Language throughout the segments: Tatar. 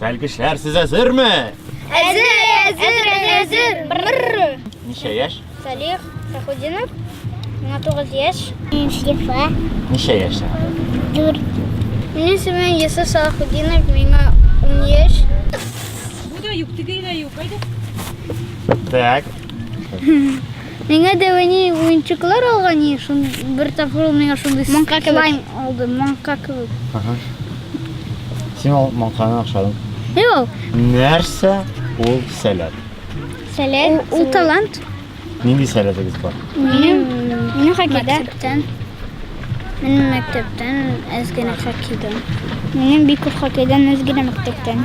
Сәлгешләр, сез әзерме? Әзер, әзер, әзер. Бррр. Ничә яшь? Салих Сахудинов. Миңа 9 яшь. Шифа. Ничә яшь сиңа? 4. Минем исемем Йосыф Сахудинов. Миңа 10 яшь. Бу да юк, теге дә юк. Кайда? Так. Миңа да әни уенчыклар алган и шун бер тапкыр ул миңа шундый Маңка кебек. слайм алды, маңка кебек. Ага. Син ал маңканы охшадың. Юк, Нәрсә ул сәләт? Сәләт. ул талант. Нинди сәләтегез бар? Минем минем хоккейда. Мәктәптән. Мин мәктәптән әз генә хоккейдан. Минем бик күп хоккейдан, әз генә мәктәптән.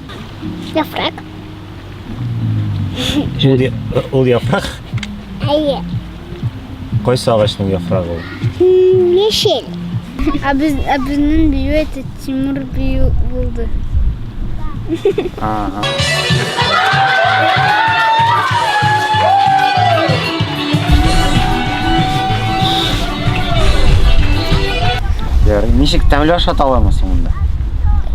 Яфрак. Ул, я- ул яфрак. Әйе. Кайсы агачның яфрагы ул? М, Яшел. А без, а безнең бию это Тимур бию булды. Ага. Ярый, ничек тәмле ашат аламыз монда?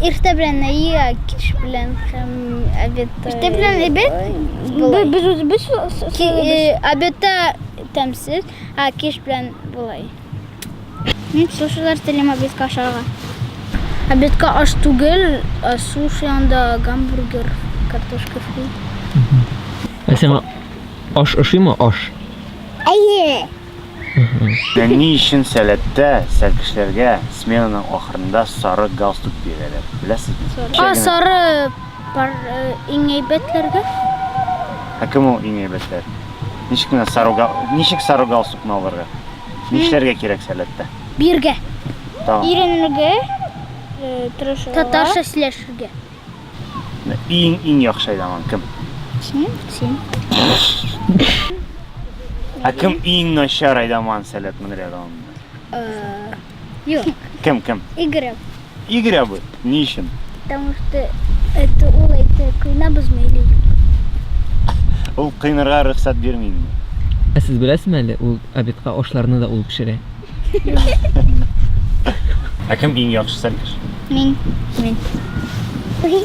Иртә белән ия, кич белән һәм обед. Иртә белән обед? Без без обедта тәмсез, а кич белән болай. Мин сушилар телим обедка ашарга. Обедка аш түгел, ә суши анда гамбургер, картошка фри. Ә сиңа аш ошыймы? Аш. Әйе. Ә ни өчен сәләттә сәлкешләргә сменаның ахырында сары галстук бирәләр? Беләсезме? А сары Бар иң әйбәтләргә. Ә кем ул иң әйбәтләр? Ничек кенә сары гал... Ничек сары галстукны алырга? Нишләргә кирәк сәләттә? Биргә. Тагын. Иренергә, э, тырышырга. Татарча сөйләшергә. Иң иң яхшы айламан кем? Син, син. Ә кем иң начар айламан сәләт мөнрәгә алында? Э, Юк. Кем, кем? Игорь абый. Игорь абый? Ни өчен? Потому что это ул әйтә, кыйнабызмы или юк? Ул кыйнарга рөхсәт бирмиме? Ә сез беләсезме әле, ул обедка ашларны да ул пешерә. Ә кем иң яхшы сәлкеш? Мин. Мин. Ой.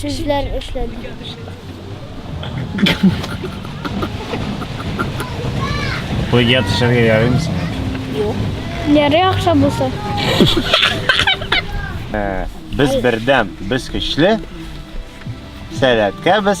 Сүзләр эшләде. Койга төшәргә ярыймы сиңа? Юк. Ярый акча булса. Без бердәм, без көчле. Сәләткә без.